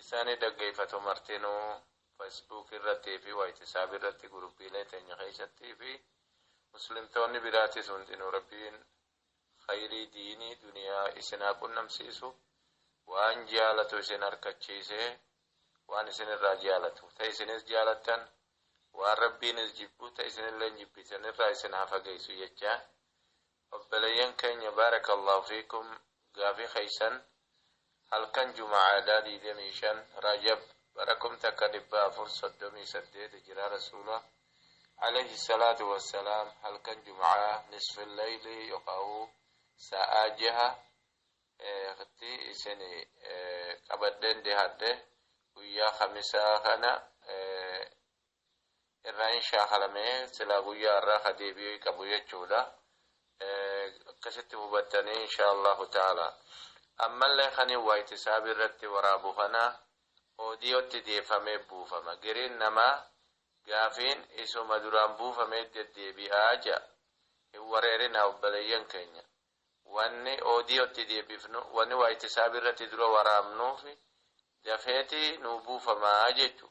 Isani daggeeyfatu martinu Facebook irrati fi whtisapp irrati guruppiilee teenya keeysatti fi Muslimtoonni biraatis hundinu Rabbiin kheeyrii diinii duniyaa isin haa qunnamsiisu waan jaalatu isin arkachiise waan isin irraa jaalatu ta isinis jaalattan waan Rabbiinis jibbu ta isinilleen jibbitan irraa isin haa fageeysu jechaa Obboleeyyan keenya Baarakallaahu fiikum Gaafii keessan Halkan Juma'aadhaa digdamii shan Rajab bara kum takka dhibba afur soddomii saddeet Hijraa Rasuula Aleeyhi salaatu wassalaam halkan Juma'aa Nisful Leeylii yokaa'uu Saa'aa jaha tti isin qabadheen dhihaadhe Guyyaa Kamisaa kana irraa hin shaakalame silaa guyyaa har'aa ka deebi'ee qabu jechuudha akkasitti hubattanii inshaa allahu ta'ala ammallee kani waayiti saabii irratti waraabu kana oodiyootti deeffamee buufama giriin namaa gaafiin isuma duraan buufamee deddeebi'aa ja'a hin wareerinaa obboleeyyan keenya wanni oodiyootti deebifnu wanni waayiti saabii irratti dura waraabnuufi dafeeti nuu buufamaa jechu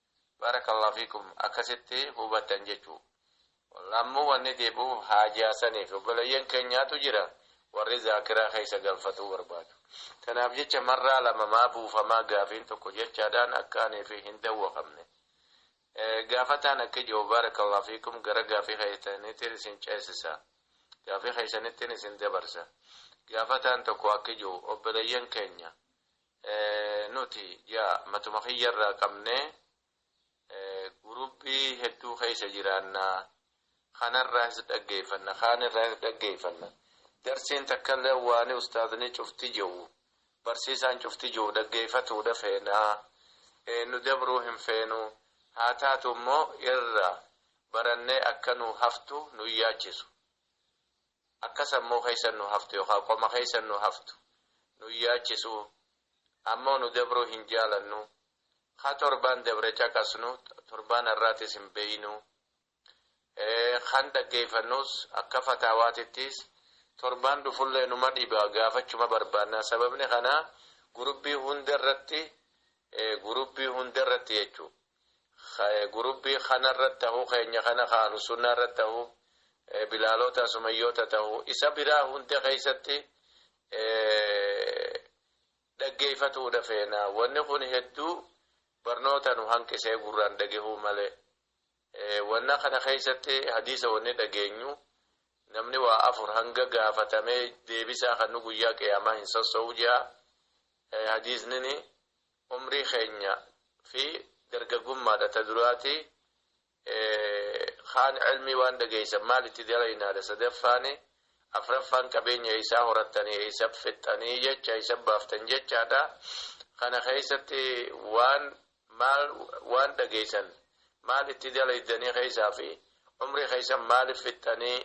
Barakallah fikum akkasitti hubattan jechuu Ammo wanni deebi'uuf haajaa saniif obboleeyyan keenyaatu jira warri zaakiraa keessa galfatuu barbaadu tanaaf jecha marraa lama maa buufamaa gaafiin tokko jechaadhaan akka ani fi hin dawwakamne gaafataan akki jiru barakallah fikum gara gaafii keessaniitiin isin ceesisa gaafii keessanittiin isin dabarsa gaafataan tokko akki jiru obboleeyyan keenya Nuti ji'a matuma kiyyarraa qabnee gurupii hedduu keessa jiraanna. Kanarraahis dhaggeeffanna, kaanirraahis dhaggeeffanna. Darsiin takkallee waani ustaazni cufti je'u, barsiisaan cufti je'u dhaggeeffatuudha feena. Nu dabruu hin feenu. Haa taatu immoo irra barannee akka nuu haftu nu hin yaachisu. akka sammuu keessa nu haftu yookaan qoma keessa nu haftu nu yaachisu ammoo nu dabruu hin jaalannu ka torbaan dabre caqasnu torbaan har'aatis hin beeynu kan dhaggeeyfannuus akka fataawaatittiis torbaan dhufullee numa dhiba gaafachuma barbaanna sababni kanaa gurubbii hundarratti gurubbii hundarratti jechuu gurubbii kanarra tahu keenya kana ka ahlusunnaa irra tahu bilaaloota sumayyoota tahu isa biraa hunda keessatti dhaggeeffatuudha feena wanni kun hedduu barnoota nu hanqisee gurraan dhagehuu malee wanna kana keessatti hadiisa wanni dhageenyu namni waa afur hanga gaafatamee deebisaa kan nu guyyaa qiyaamaa hin sossoo'u jaa hadiisnini umrii keenya fi dargaggummaadha ta duraati kaan cilmii waan dhageeysan maal itti dalaynaadha sadaffaani afraffaan qabeenya eeysaa horattanii eeysa fixxanii jecha eeysa baaftan jechaadha kana keeysatti waan maal waan dhageeysan maal itti dalaydanii keeysaa fi umrii keeysan maaliif fixxanii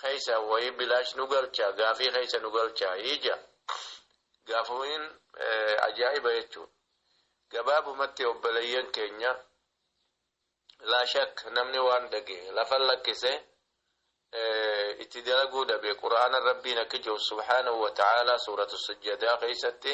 keessa wayii bilaash nu galchaa gaafii keessa nu galchaa ija gaafumiin ajaa'iba jechuun gabaabumatti obboleeyyan keenya laashak namni waan dhage lafa lakkise itti dalaguu dhabe qura'aana rabbiin akka jiru subhaanahu wa ta'aalaa suuratu sujjadaa keessatti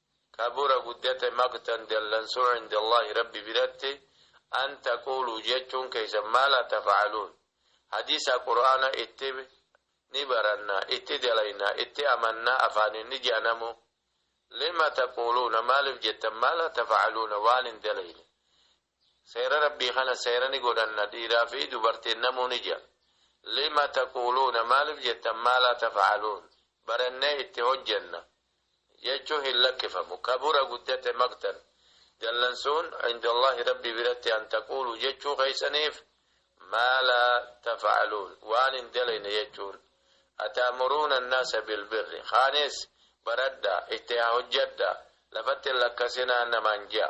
kabura guddate maqtan dallansuu inda Allahi Rabbi biratti an taqulu jechuun keessan maa laa tafa'aluun hadiisa qur'aana itti ni baranna itti dalayna itti amanna afaanin ni je'anamu lima taquluuna maalif jettan maa laa tafa'aluuna waan hin dalayne Seera Rabbii kana seera ni godhanna, dhiiraa fi dubartiin namuu ni je'a. Lima taquuluuna, maaliif jettan, maa laa taf'aluun, barannee itti hojjanna jechuun hin lakkifamu. Kabura guddate maqtan, dallansuun, inda Allaahi Rabbii biratti an taquuluu jechuu keessaniif, maa laa taf'aluun, waan hin dalayne jechuun. Ata'muruuna annaasa bilbirri, kaanis baradhaa, itti haa hojjadhaa, lafatti hin lakkasinaa namaan je'a.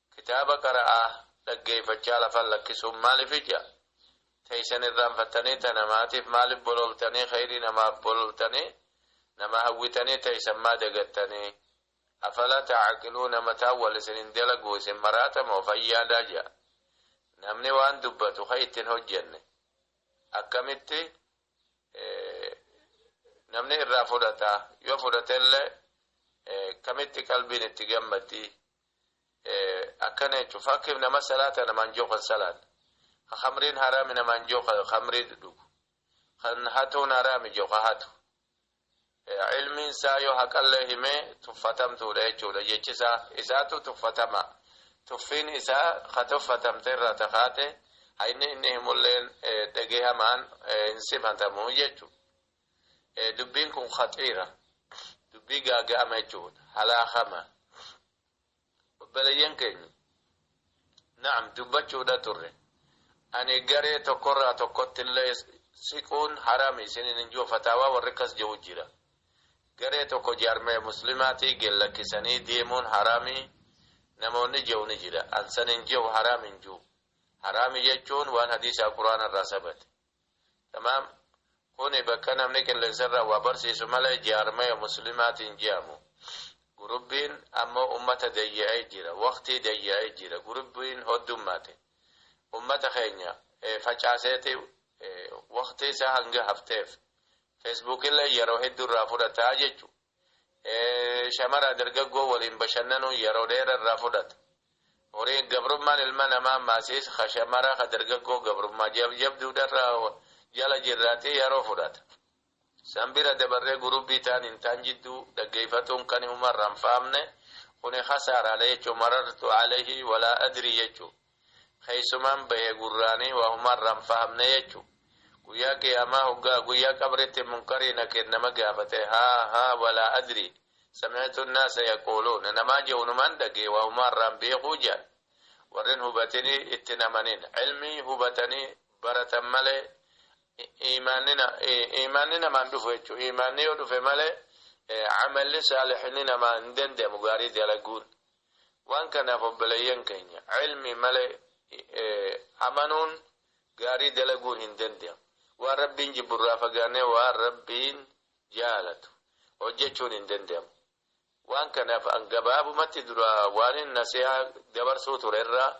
Kitaaba qara'aa, dhaggeeyfachaa lafan lakkisuun maalifi ja? Teeysan irraanfattanii ta namaatiif maalif bololtanii kheeyrii namaaf bololtanii nama hawwitanii teeysan maa dagattanii? Afalaa ta'aqiluuna mataan wal isin hin dalaguu isin maraata moo fayyaadaa ja? Namni waan dubbatu kha itti hin hojjenne akkamitti namni irraa fudhata? Yoo fudhatellee kamitti qalbiin itti gammaddii? akkana jechuun fakkiif nama salaata namaan jiru kan salaanne kan khamriin haraami namaan jiru kan khamrii dhugu kan hatuun haraami jiru kan hatu ilmiin isaa yoo haqallee himee tuffatamtuudha jechuudha jechi isaa isaatu tuffatama tuffiin isaa ka tuffatamte irraa takaate hayni inni himulleen dhageehamaan hin sifatamu jechuudha. dubbiin kun khaxiira dubbii gaaga'ama jechuudha halaakama obboleeyyan keenya na'am dubbachuudha turre ani garee tokkorraa tokkotti illee siquun haraami isinin hin jiru fataawaa warri akkas jiru jira garee tokko jaarmee muslimaatii gellakkisanii deemuun haraami namoonni jiru ni jira ansan hin jiru haraami hin jiru haraami jechuun waan hadiisaa quraana irraa sabate Tamaam Kuni bakka namni qillensarraa waa barsiisu malee jaarmaya muslimaati hin je'amu. Gurubbiin ammoo ummata dayya'ee jira. Waqtii dayya'ee jira. Gurubbiin hoddummaate. Ummata keenya facaaseeti waqtii isaa hanga hafteef. Feesbuukillee yeroo hedduu irraa fudhata jechuudha. Shamara dargaggoo waliin bashannanuun yeroo dheera irraa fudhata. Horiin gabrummaan ilma namaa maasiis ka shamara ka dargaggoo gabrummaa jabjabduudha irraa jala jirraatee yeroo fudhata. San bira dabarree gurubbii taan hin taan jidduu dhaggeeyfatuun kani umarra hin faamne kuni khasaaraadha jechuu marartu alayhi walaa adrii jechuu. Keessumaan bahe gurraanii waa humaa irraa hin fahamne jechu. Guyyaa qiyaamaa hoggaa guyyaa qabritti munkarii nakir nama gaafate haa haa walaa adrii sami'tu annaasa yaquuluun namaa je'u numaan dhagee waa humaa irraa hin beekuu je'an. Warrin hubatinii itti hin amanin. Ilmii hubatanii baratan malee iimaanni namaan dhufu jechu. Iimaanni yoo dhufe malee amalli saalihni namaa hin danda'amu gaarii dalaguun. Waan kanaaf obboleeyyan keenya ilmii malee amanuun gaarii dalaguun hin danda'amu. Waan Rabbiin jibbu irraa fagaannee waan Rabbiin jaalatu hojjachuun hin danda'amu. Waan kanaaf an gabaabumatti dura waanin nasihaa dabarsuu ture irraa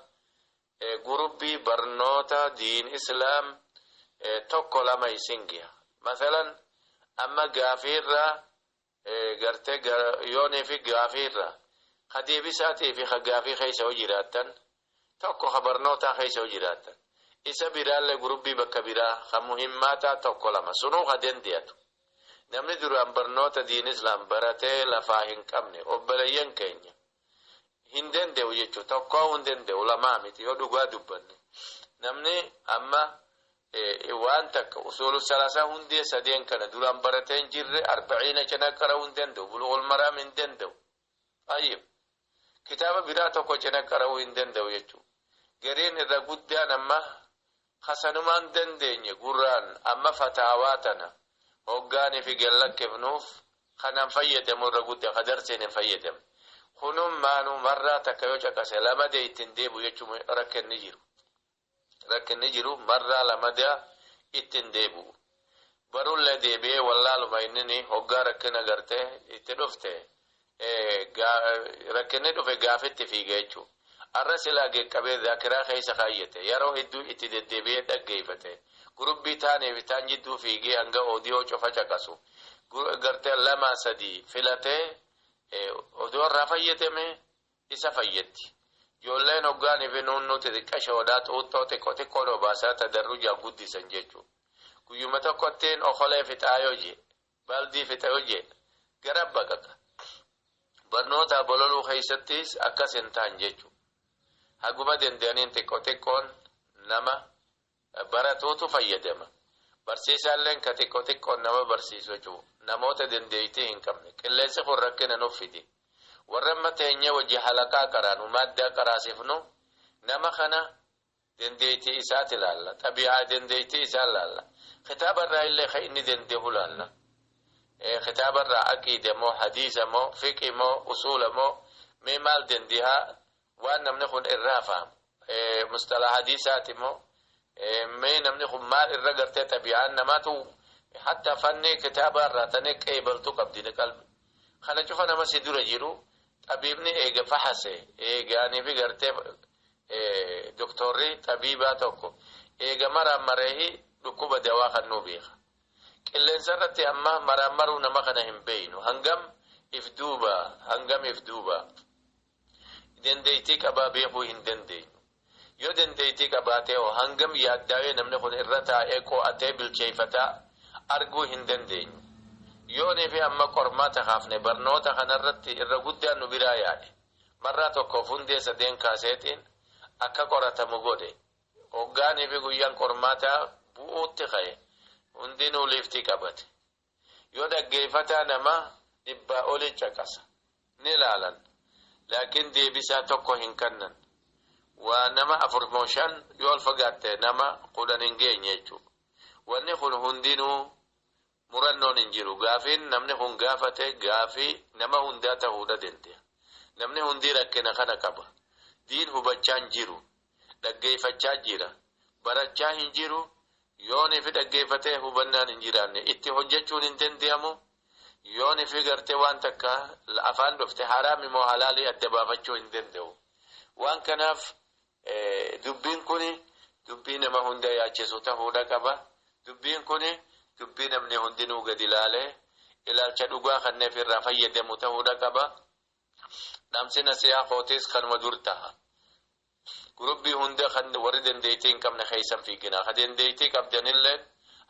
gurubbii barnoota diin islaam tokko lama isin geha. Masalan amma gaafii irraa Garte yoonii fi gaafii irra ka deebisaatii fi ka gaafii keessa yoo jiraattan tokko ka barnootaa keessa yoo jiraattan isa biraallee gurubbii bakka biraa ka muhimmaataa tokko lama sunuu ka dende'atu namni duraan barnoota diin islaam baratee lafaa hin qabne obboleeyyan keenya hin dande'u jechu tokkoo hin dande'u lamaa miti yoo dhugaa dubbanne namni amma waan takka usuulu salaasaa hundee sadeen kana duraan baratee hin jirre arbaciina cina qara'uu hin danda'u bulu'ul maraam hin danda'u ayyib kitaaba biraa tokko cina qara'uu hin danda'u jechuu gariin irra guddaan amma Ka sanumaan dandeenye gurraan amma fataawaa tana hoggaaniifi gad lakkifnuuf kanan fayyadamu irra gudda ka darseen hin fayyadamne. Kunummaanuu marraa takka yoo caqase lamadee itti hin deebi'u jechuun rakkinni jiru. Rakkinni jiru marraa lamadaa itti hin deebi'u. Barullee deebi'ee wallaaluma innini hoggaa rakkina garte itti dhufte rakkinni dhufe gaafitti fiiga jechuudha. Arra silaa geqqabee zaakiraa keessa kaayyate yaroo hedduu itti deddeebi'ee dhaggeeffate gurubbii taanii fi taan jidduu fiigee hanga odiyoo cufa caqasu garte lama sadii filatee odoo irraa fayyadame isa fayyaddi. Ijoolleen hoggaan fi nuunnuu xixiqqashoodha, xuuxxoo xiqqo xiqqoon obaasaa tadarrujaan guddisan jechuudha. Guyyuma tokkottiin okolee fixaa yoo jee, baaldii fixa yoo jee, gara baqaqa. Barnootaa bololuu keessattis akkas hin tahan jechuudha. Haguma danda'aniin xiqqo xiqqoon nama baratuutu fayyadama. Barsiisaalleen ka xiqqo xiqqoon nama barsiisu cu. Namoota dandeeytii hin qabne. Qilleensi kun rakkina nuf fide. Warri amma teenyee wajji halaqaa qaraanu, maaddaa qaraasifnu, nama kana dandeeytii isaati laalla. Xabi'aa dandeeytii isaa laalla. Kitaaba irraa illee ka inni dandeehu laalla. Kitaaba irraa aqiida moo, hadiisa moo, fiqi moo, usuula moo, mee maal dandeehaa, Waan namni kun irraa fahamu. Musxalaha hadiisaati immoo mee namni kun maal irra gartee xabi'aan namaatu hatta fannee kitaabaa irraa tanee qeebaltu qabdi ni qalbi. Kana cufa nama si dura jiru xabiibni eega fahase eegaanii fi gartee doktorri xabiibaa tokko eega maraammareehi dhukkuba dawaa kan nuu beeka. Qilleensa irratti amma maraammaruu nama kana hin beeynu hangam if duuba hangam if duuba. Dandeettii qabaa beekuu hin dandeenyu. Yoo dandeettii qabaatee hoo hangam yaaddaawee namni kun irra taa'ee qo'atee bilcheeffata arguu hin dandeenyu. Yoonii fi amma qormaata kaafne barnoota kana irratti irra guddaan nu biraa yaa'e. Marraa tokkoof hundee sadeen kaaseetiin akka qoratamu godhe. Hoggaanii fi guyyaan qormaataa bu'uutti ka'e. Hundinuu liiftii qabate. Yoo dhaggeeffataa nama dhibbaa olii caqasa ni laalan laakiin deebisaa tokko hin kannan. Waa nama afur moo shan yoo ol fagaatte nama kudhan hin geenye jechuu. Wanni kun hundinuu murannoon hin jiru. Gaafiin namni kun gaafate gaafii nama hundaa tahuudha dende'a. Namni hundii rakkina kana qaba. Diin hubachaa hin jiru. Dhaggeeffachaa jira. Barachaa hin jiru. Yoo nifi dhaggeeffatee hubannaan hin jiraanne itti hojjachuun hin dandeeyamu. Yoo nifi gartee waan takka afaan dhofte haraami moo halaali adda baafachuu hin dandeewu. Waan kanaaf dubbiin kuni dubbii nama hunda yaachisu tahuudha qaba. Dubbiin kuni dubbii namni hundinuu gadi laalee ilaalcha dhugaa kanneef irraa fayyadamu tahuudha qaba. Dhaamsi nasihaa kootiis kanuma dur taha. Gurupbii hunda kan warri dandeettii hin qabne keessa hin fiiginaa. Ka dandeettii qabdanilleen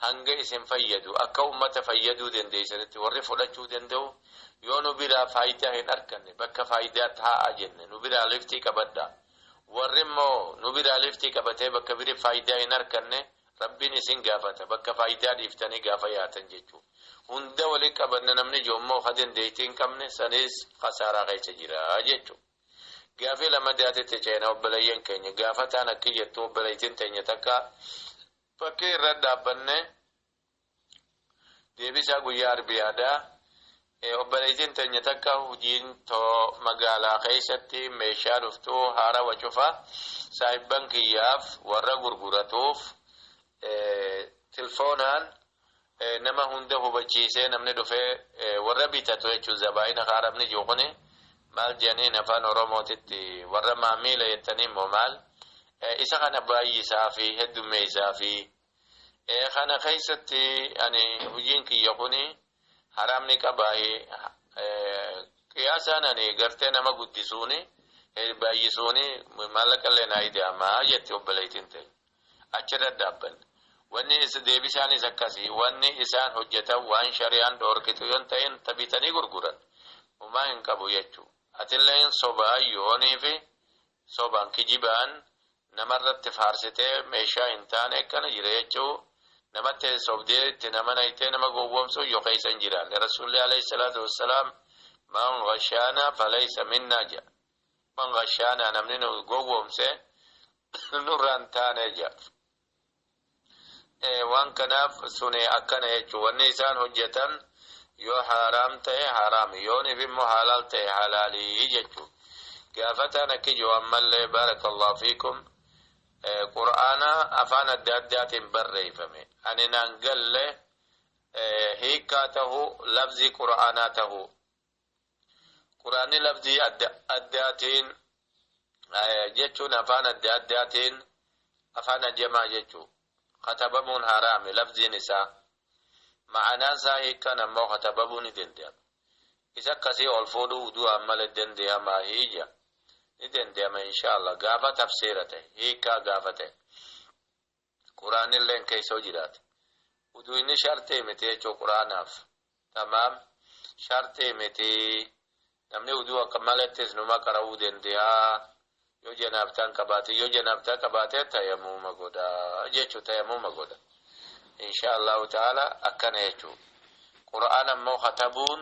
hanga isin fayyadu, akka ummata fayyaduu dandeessanitti warri fudhachuu danda'u yoo nu biraa faaydaa hin arkanne bakka faaydaa taa'aa jenne nu biraa liftii qabadhaa. Warri immoo nu biraa liftii qabatee bakka biri faaydaa hin arkanne Rabbiin isin gaafata bakka faaydaa dhiiftanii gaafa yaatan jechuu. Hunda wali qabanna namni jiru immoo ka dandeettii hin qabne saniis kasaaraa keessa jira jechuu. Gaafii lamadatitti ceena obboleeyyan keenya gaafataan akki jettu obboleeytin teenya takka fakkii irra dhaabbanne deebisaa guyyaa arbi yaada obboleeytin teenya takka hujiin too magaalaa keessatti meeshaa dhuftu haarawa cufa saahibban kiyyaaf warra gurguratuuf tilfoonaan nama hunda hubachiisee namni dhufee warra bitatu jechuun zabaayina ka arabni jiru kuni maal jedhaniin afaan oromootitti warra maamiila jettanii immoo maal isa kana baay'isaa fi heddummeessaa fi kana keessatti ani hojiin kiyya kuni haraamni qabaahi qiyaasaan ani gartee nama guddisuuni baay'isuuni maallaqa illee naa ida'amaa jetti obboleettiin ta'e. Achi irra dhaabbanna. Wanni is deebisaanis akkasi. Wanni isaan hojjatan waan shari'aan dhoorkitu yoon ta'in ta bitanii gurguran humaa hin qabu jechu. Atilleen sobaa yooniifi sobaan kijibaan namarratti faarsitee meeshaa hin taane akkana jira jechuu namatti sobdee itti nama naytee nama gowwoomsuu yoo keessa hin jiraanne. Rasuulli alayhi salaatu wassalaam man ghashaana falaysa minnaa jedha. Imam Ghashaanaa namni nu gowwoomse nurraa hin taane jedha. Waan kanaaf suni akkana jechuun wanni isaan hojjetan yoo haaraam ta'e haaraami yoo niif immoo halaal ta'e halaalii jechuun gaafataan akki jiru ammallee baarakallahu fiikum qur'aana afaan adda addaatiin barreeffame ani naan galle hiikkaa tahu labzii qur'aanaa tahu Quraanni lafzii adda addaatiin jechuun afaan adda addaatiin afaan ajamaa jechuu katabamuun haraami lafziin isaa ma'anaan isaa hiikkan ammoo katabamuu ni danda'ama. Isa akkasii ol fuudhuu udu'aan malee danda'ama hiija ni danda'ama inshaallah gaafa tafsiira ta'e hiikkaa gaafa ta'e. Quraanilleen keeysoo jiraate. Uduu inni shartee miti jechuu quraanaaf. Tamaam. Shartee miti. Namni uduu akka malettis numa qara'uu dendeha. Yoo janaabtaan qabaate. Yoo janaabtaa qabaate tayamuuma godha. Jechuu tayamuuma godha. Inshaa Allaahu ta'aalaa akkana jechuu. Quraana immoo katabuun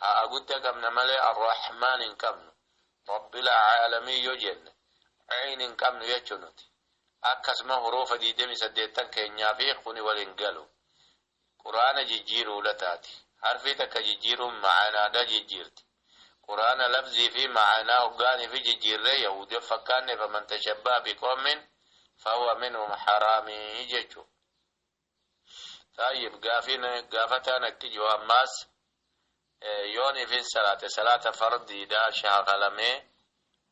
Ha'a gudda qabna malee Ar-Rahmaan hin qabnu. Rabbil Aalamiin yoo jenne Ayn hin qabnu jechuu nuti. Akkasuma huruufa 28 keenyaa fi kuni wal hin galu. Qur'aana jijjiiruu lataati. Harfii takka jijjiiruun ma'anaadha jijjiirti. Qur'aana lafzii fi ma'anaa hoggaanii fi jijjiirree Yahuudii of fakkaanne faman tashabbaha biqawmin fahuwa minhum haraamii jechuu. Xaayyib gaafiin gaafataan akki jiru ammaas yoon ifin salaate salaata fardiidha shaakalamee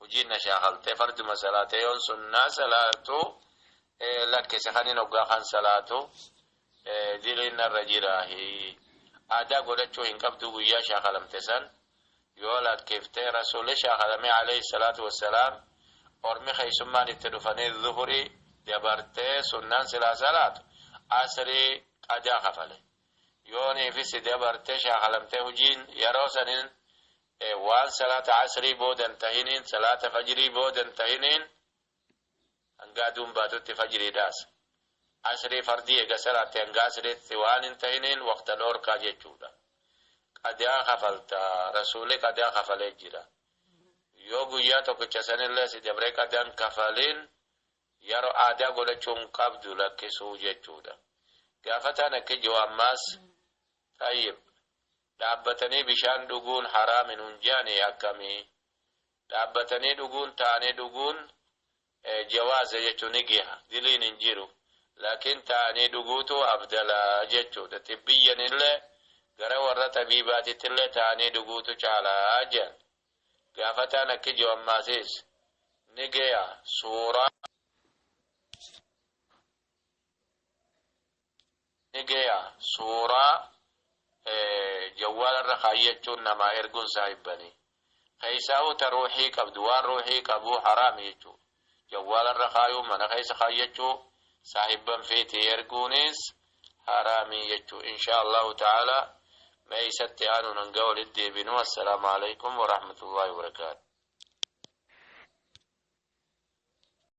hujiin na shaakaltee farduma salaate yoon sunnaa salaatu lakkise kanin hoggaa kan salaatu diliin narra jiraahi aadaa godhachuu hin qabduu guyyaa shaakalamte san Yoo lakkifte, Rasuulli shaakalamee aleyh salaatu wassalaam ormi keessummaan itti dhufanii zuhrii dabartee sunnaan silaa salaatu asrii qadaa kafale. Yoo niifi si dabartee shaakalamtee hujiin yeroo saniin waan salaata asrii booda hin tahiniin salaata fajrii booda hin tahiniin, Hanga aduun baatutti fajriidhaas. Asrii fardii eega salaatte hanga asriitti waan hin tahiniin waqta dhoorkaa jechuudha. Qadaa kafalta. Rasuulli qadaa kafalee jira. Yoo guyyaa tokkicha sanillee si dabree qadaa hin kafaliin yaroo aadaa godhachuu hin qabdu lakkisuu jechuudha. Gaafataan akki jiru ammaas Xayyib dhaabbatanii bishaan dhuguun haraami nun je'anii akkamii? Dhaabbatanii dhuguun taa'anii dhuguun jawaaza jechuun ni geha diliin hin jiru laakiin taa'anii dhuguutu afdala jechuudha xibbiyyanillee gara warra xabiibaatittillee taa'anii dhuguutu caala jean gaafataan akki je'u ammaasiis ni geya suuraa ni geya suuraa jawwaala irra kaayyachuun namaa erguun saahibbanii keessaahuu ta ruuhii qabdu waan ruuhii qabuu haraami jechuu jawwaala irra kaayuu mana keessa kaayyachuu saahibban fiitii erguunis haraami jechuu inshaa allahu ta'ala mee isatti aanuun hanga walitti deebinu assalaamu alaikum warahmatullaahi wabarakaatu